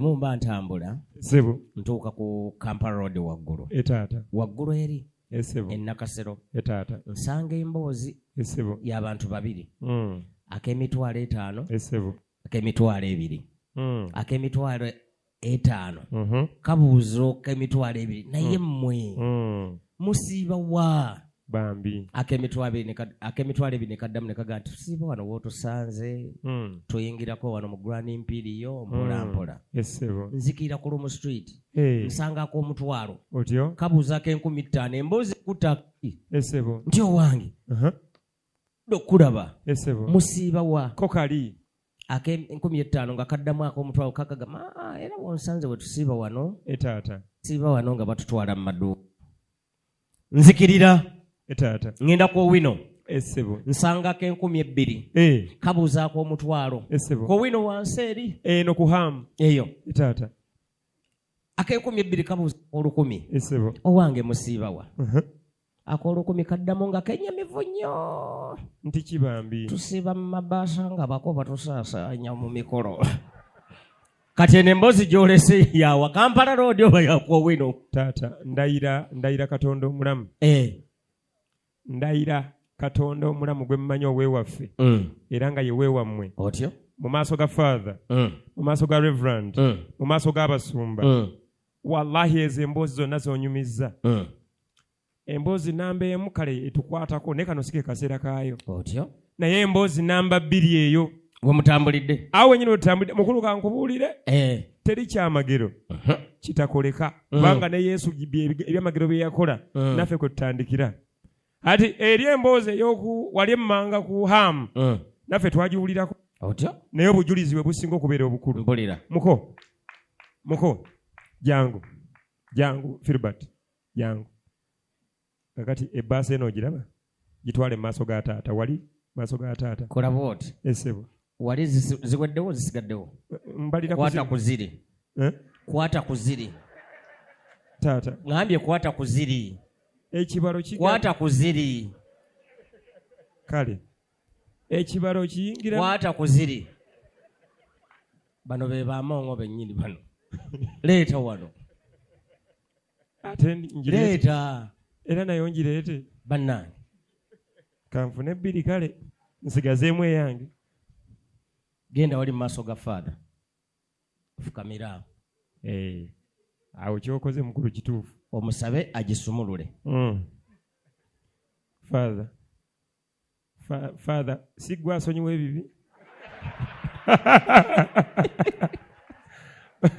mumba ntambula sebo ntuuka ku kampala road waggulu etaata waggulu eri esebo enakasero etaata nsanga emboozi esebo y'abantu babiri mm. ak'emitwalo etaano esebo ak'emitwalo ebiri mm. ak'emitwalo etaano mm -hmm. kabuuzo k'emitwalo ebiri naye mmwe mm. mm. musiiba wa bambi akemitwalo ebiri nekaddamu nekaga nti tusiiba wano wotusanze hmm. tuyingirako wano mu grand mpiriyo hmm. mpolampola nzikirira ku lumu street nsangako omutwalo kabuuzako enkumi ttaano emboozi kutaki nti owange uh-huh. okulaba musiiba wa kokali akenkumi ettaano nga kaddamu akomutwalo kakaga ma era wonsanze wetusiiba wano etaata siiba wano nga batutwala mu maduuka nzikirira eh, taata ŋŋenda ku owino esebo eh, nsangako enkumi ebbiri eh. kabuuzaako omutwalo esebo ku owino wansi eri eno ku hamu eyo taata akenkumi ebbiri kabuuza olukumi esebo owange musiibawa uh-huh. akolukumi kaddamu nga kenyamivu nnyo nti kibambi tusiiba mu mabaasa nga bako batusaasaanya mu mikolo kati eno emboozi gyolese yawa kampala roodi oba yakwowino taata ndayira ndayira katonda omulamu eh. ndayira katonda omulamu gwe mumanyi owewaffe mm. era nga yewewammwe otyo mu maaso ga father mm. mu maaso ga reverand mm. mu maaso g'abasumba wallahi ezo emboozi zonna zonyumizza emboozi namba emu kale etukwatako naye kano sike kaseera kaayo otyo naye emboozi namba bbiri eyo wemutambulidde awo wenyini wetutambulidde mukulu kankubuulire eh. teri kyamagero uh-huh. kitakoleka uh-huh. kubanga ne yesu ebyamagero bye yakola uh-huh. naffe kwe tutandikira ati eri emboozi eyoku wali emmanga ku hamu naffe twagiwulirako otyo naye obujulizi bwe businga okubeera obukulu muko muko jangu jangu filbert jangu kakati ebbaasa eno ogiraba gitwale mu maaso ga taata wali maaso ga taata kola bwoti esebo eh, wali ziweddewo zisigaddewo mbalirakwata ku ziri eh? kwata ku ziri taata ngambye kwata ku ziri ekibalo kwata ku ziri kale ekibalo kiyingira kwata ku ziri bano be bamongo bennyini bano leeta wano ate ngireeta era nayo ngireete bannange kanfune bbiri kale nsigazeemu eyange genda wali mu maaso ga faatha fukamiraawo eh, awo kyokoze mukulu kituufu omusabe agisumulule hmm. faatha faatha siggwa asonyiwa ebibi